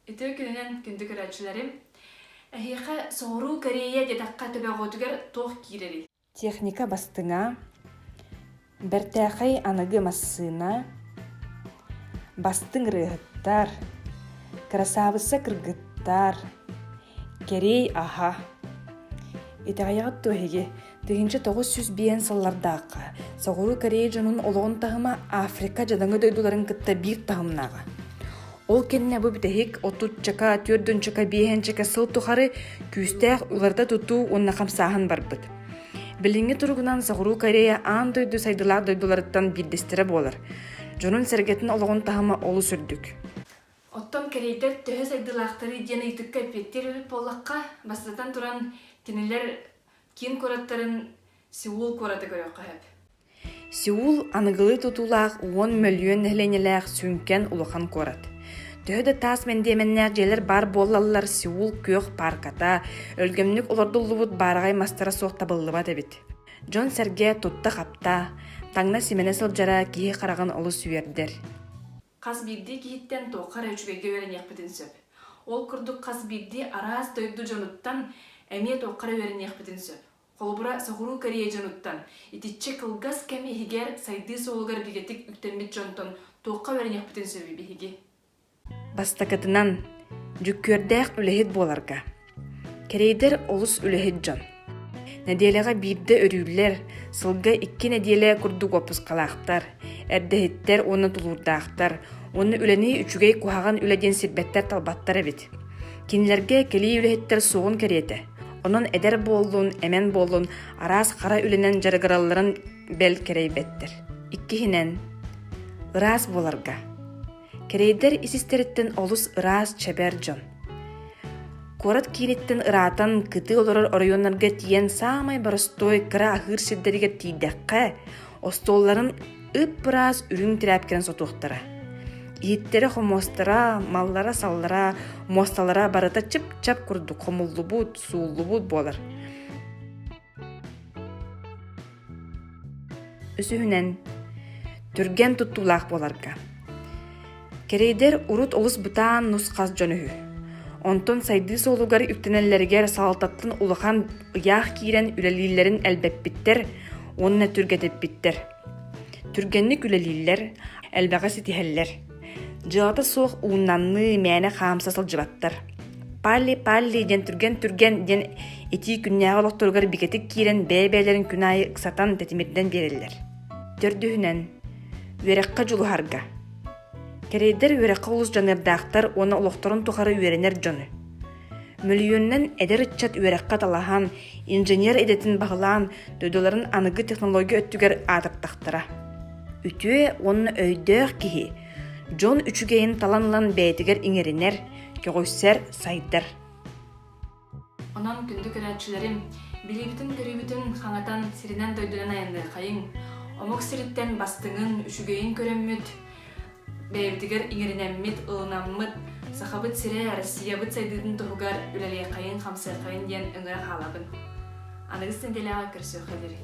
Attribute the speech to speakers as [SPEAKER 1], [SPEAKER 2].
[SPEAKER 1] Үтүө күнүнэн күндү көрөөччүлэрим! Эһиэхэ соҕуруу Корея диэтэххэ төбөҕүтүгэр туох киирэрий? Техника бастыҥа, бэртээхэй аныгы массыына, бастыҥ ырыаһыттар, кырасаабысса кыргыттар, кэрий аһа. Итэҕэйэҕит дуо эһиги Тыһыынча тоҕус сүүс биээн сыллардаахха Соҕуруу Корея дьонун олоҕун таһыма Африка дьадаҥы дойдуларын кытта биир таһымнааҕа. Ол кэннэ бу бүтэһик отутчака, төрдүнчака, биэһэнчэкэ сыл тухары күүстээх уларыта тутуу уонна хамсааһын барбыт. Билиҥҥи туругунан Соҕуруу Корея аан дойду сайдылаах дойдуларыттан биирдэстэрэ буолар. Дьонун-сэргэтин олоҕун таһыма олус үрдүк. Оттон кэриэтэр төһө сайдыылаахтарый диэн ыйытыкка эппиэттиир эбит буоллахха, бастатан туран, кинилэр киин куораттарын Сеул куораты көрүөххэ сөп. Сеул аныгылыы тутуулаах уон мөлүйүөн нэһилиэнньэлээх сүҥкэн улахан куорат. Төһө да таас мэндиэмэннээх дьиэлэр баар буоллаллар, Сеул күөх паарката, өлгөмнүк олордуллубут баараҕай мастара суох табыллыбат эбит. Дьон-сэргэ тутта-хапта, таҥна-симэнэ сылдьара киһи хараҕын олус үөрдэр. Хас биирдии киһиттэн туохха эрэ үчүгэйгэ үөрэниэхпитин сөп. Ол курдук хас биирдии араас дойду дьонуттан эмиэ туохха эрэ үөрэниэхпитин сөп. Холобура, Соҕуруу Корея дьонуттан, итиччэ кылгас кэм иһигэр сайдыы суолугар бигэтик үктэммит дьонтон туохха үөрэниэхпитин сөбүй биһиги? Бастакытынан, дьүккүөрдээх үлэһит буоларга. Кэрэйдэр олус үлэһит дьон. Нэдиэлэҕэ биирдэ өрүүллэр, сылга икки нэдиэлэ курдук уоппускалаахтар, эрдэһиттэр уонна тулуурдаахтар, уонна үлэни үчүгэй куһаҕан үлэ диэн сирбэттэр-талбаттар эбит. Кинилэргэ кэлии үлэһиттэр суоҕун кэриэтэ. Онон эдэр буоллун, эмэн буоллун араас хара үлэнэн дьарыгыралларын бэл кэрэйбэттэр. Иккиһинэн, ыраас буоларга. Кэрэйдэр ис-истэриттэн олус ыраас, чэбэр дьон. Куорат кииниттэн ыраатан кытыы олорор оройуоннарга тиийэн саамай боростуой кыра аһыыр сирдэригэр тиийдэххэ, остуолларын ып-ыраас үрүҥ тирээпкэнэн сотуохтара. Иһиттэрэ-хомуостара, маллара-саллара, муосталара барыта чып-чап курдук хомуллубут, сууллубут буолар. Үсүһүнэн, түргэн туттуулаах буоларга. Кэрэйдэр урут олус бытаан нус-хас дьон үһү. Онтон сайдыы суолугар үктэнэллэригэр салалтаттан улахан ыйаах киирэн үлэлииллэрин элбэппиттэр уонна түргэтиппиттэр. Түргэнник үлэлииллэр, элбэҕи ситиһэллэр. Дьыалата суох ууннанныы мээнэ хаамса сылдьыбаттар. Палли, Палли диэн түргэн-түргэн диэн итии күннээҕи олохторугар бигэтик киирэн бэйэ-бэйэлэрин күн аайы ыксатан тэтимирдэн биэрэллэр. Төрдүһүнэн, үөрэххэ дьулуһарга. Кэрэйдэр үөрэххэ олус дьаныардаахтар уонна олохторун тухары үөрэнэр дьону. Мөлүйүөнүнэн эдэр ыччат үөрэххэ талаһан, инженер идэтин баһылаан, дойдуларын аныгы технология өттүгэр аатыртахтара. Үтүө уонна өйдөөх киһи дьон үчүгэйин талан ылан бэйэтигэр иҥэринэр, көҕүсэр, сайдар. Онон күндү көрөөччүлэрим, билиибитин көрүүбүтүн хаҥатан сиринэн дойдунан айанныаххайыҥ. Омук сириттэн бастыҥын, үчүгэйин көрөммүт, бэйэбитигэр иҥэринэммит, ылынаммыт Сахабыт сирэ Россиябыт сайдыытын туһугар үлэлиэххэйин-хамсыаххайын диэн өҥөро хаалабын. Аныгыс нэдиэлэҕэ көрсүөххэлэрий.